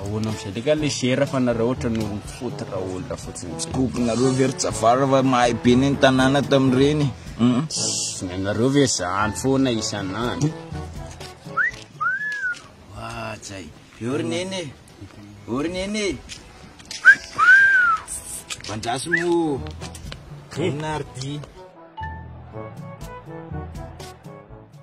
Ahoana amizay le ka le gera fa nareo otrany olona foty ra olona fotsiny tsy koko nareo ve ry javara fa mahay be ne ny tanàna tamin'ireny ny anareo ve zany foana isan'andro ajay eo ry neny e eo ry neny e mandraso mo inona ry ty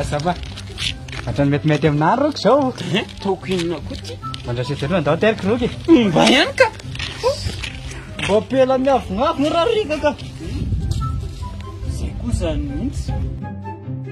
Azava. Hatrany metimety aminà roko izao. Eh, Taoko inona koa ty? Mandrasetra aloha ndao teriko roky. Mba ihany ka. Mba pela miavonavona raha rika ka. Izay koa izany mihitsy.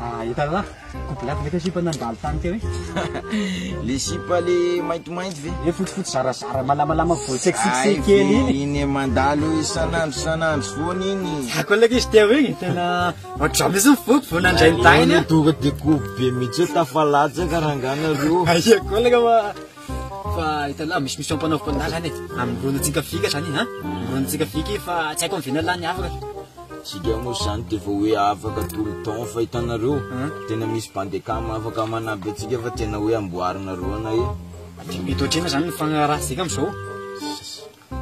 Ah efa là, couple lava ve teo sipa nandalo tany teo iny? Le sipa le maintimainty ve? Le fotsifotsy zarazara malamalama vao seksiksy kely iny. Iny mandalo isan'andro isan'andro foana iny. Za koa ilay izy teo iny tena ohatran mihitsy ny foko vao nandray ny dahiny a. Tonga de kovy be mihitsy hoe tafalatsaka rangah nareo. Aia koa ilay fa. Fa hitanao misy mission mpanaoviko an'ahy zany e. Amin'ny ronotsika fika zany ha. Ronotsika fika i fa tsy haiko amin'ny vina lany afaka. Tsika moa zany de vao hoe afaka tout le temps fa hitanareo tena misy bandecam afaka manampy antsika fa tena hoe amboarinareo anay e. Aty am-pito ohatr'inona zany ny fagnarahantsika am'zao.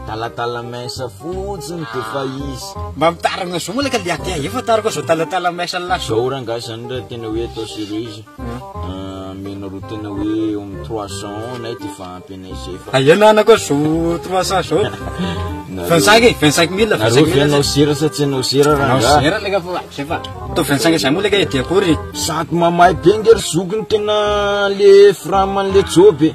Talatala mince fotsiny de fa izy. Mba mitaragna zao malaka le aty efa tara koa zao talatala mince lahy. Zao rangahy zany ra tena hoe atao series amenareo tena hoe eo am trois cents anay de fa ampy anay zay fa. Aia na ana koa zao trois cents zao vingt cinq e vingt cinq mille vingt cinq mille. Nareo ve anao sera sa tsy anao sera rangahy. Anao sera leka fa zay fa atao vingt cinq zay moa leka e de akory. Sady mamay be nge ry zoky ny tena le fram anle joby e.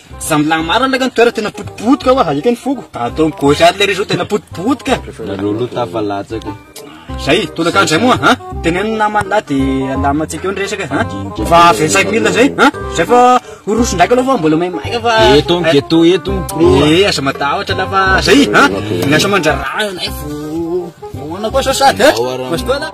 Za milaha marina laka ny toera tena potipotika oa hahita ny foko Atao am gauche ary le réseau tena potipotika Nareo lo tafalatsaka Zay, tolakandro zay moa ha? Teneno ny namany lahy de alamantsika eo ny resaka ha? Fa 25 mille zay ha? Zay fa horoso ndraika aloha fa mbola maimaika fa Eto am ghetto eto ny pro Eh, aza matahotra lahy fa zay ha? Miasa mandraraha anay vao Ahoana koa sao sady ha? Ao ara- Mazotoa lahy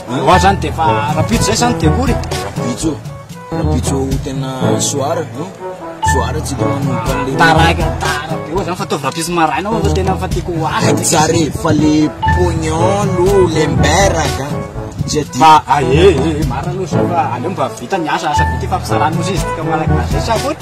Ewa zany dia efa rapitso zay zany dia ory Rapitso, rapitso tena soara no Soara tsy dia manomboka an'le Taraka tara be oa zany fa ataovy rapitso maraina oa fa tena fa tiako ho azy Tsy tsara e, fa le pognon lo le mberaka Tsy adino Fa ah eh eh eh marina aloha zao fa aleo mba vita ny asa, asa vita ifampisarahana ozy izy tika malagasy zay sa ahoana?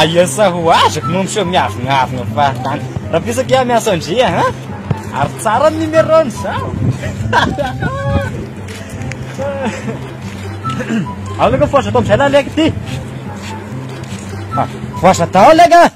Aia sa ho azako no miseho miavonavona fahatany. Raha pisaka aho miasa ndria ha? Ary tsara ny numéro-ny sao. Alaka fosa tao amizay la leka ty. Fosa tao leka.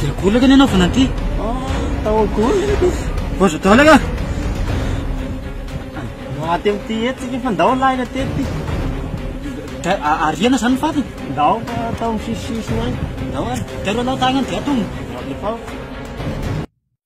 Dia gola kay ny anaovana an'ity. Tao gola ity. Bozo daholo ka. Maty amin'ity hetsy tsika fa ndao lahina tety. Dia ariana izany ny fatiny. Ndao atao misisisisina any. Ndao ary. Dia ireo lao tagnany dia atomina. Efa.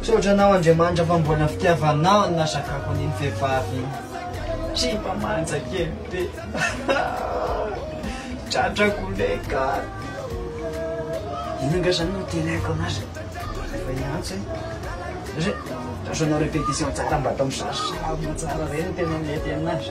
Misaotra anao Andriamanitra fa mbola fitiavanao no nasakako an'iny vehivavy iny. Tsia mba manja kely be. Tratra goleka. Inona angaha zany no itenenako anazy? Efa niantso e. Satria asanao répétition tsara mba atao misarasara tsara reny no tena mety aminazy.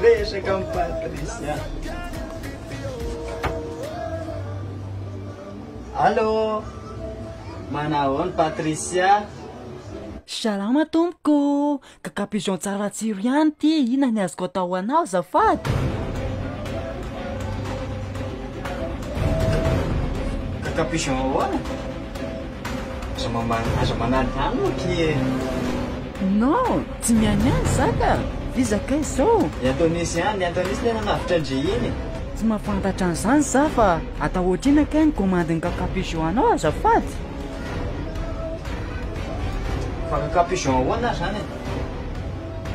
Resaka amin'i Patricia. Allô? Manahoana Patricia? Salama tompoko ô! Gaga pigeon tsara tsiro ihany ity, inona ny azoko atao ho anao azafady? Gaga pigeon ahoana? Aza mamaly aza manaly zany ohatra e. Non, tsy mihaino ihany za ka! Iza kay zao? I Antonisy ihany, i Antonisy le nanavotra an-dry iny. Tsy mahafantatra an'izany za fa atao ohatr'inona kay ny komandin'i Kaka Pigeon anao azafady? Fa Kaka Pigeon ahoana ary zany e?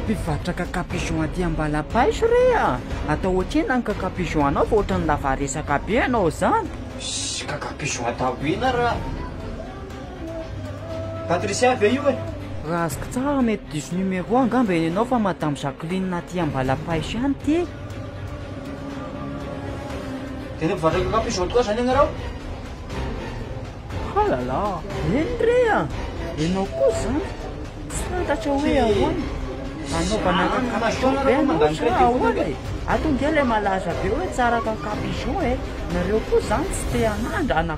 Mpivarotra Kaka Pigeon aty Ambalapaiso re a! Atao ohatr'inona ny Kaka Pigeon anao fa ohatran'ny lava resaka be ianao zany? Ssy kaka piso ataoko ina ra Patricia ve io e? Raha azoko tsara mety diso numéro angamba eny enao fa madame Jacqueline aty Ambalapaiso ihany ity e! Tena mpivarotra kaka piso tokoa zany ianareo? Halala! Eny re a! Enao koa zany? Tsy fantatro hoe ahoana? Anaovana cacapigeon be anao sa ahoana e? Ato nge ilay malaza be hoe tsara cacapigeon e! Nareo koa zany tsy te hanandrana?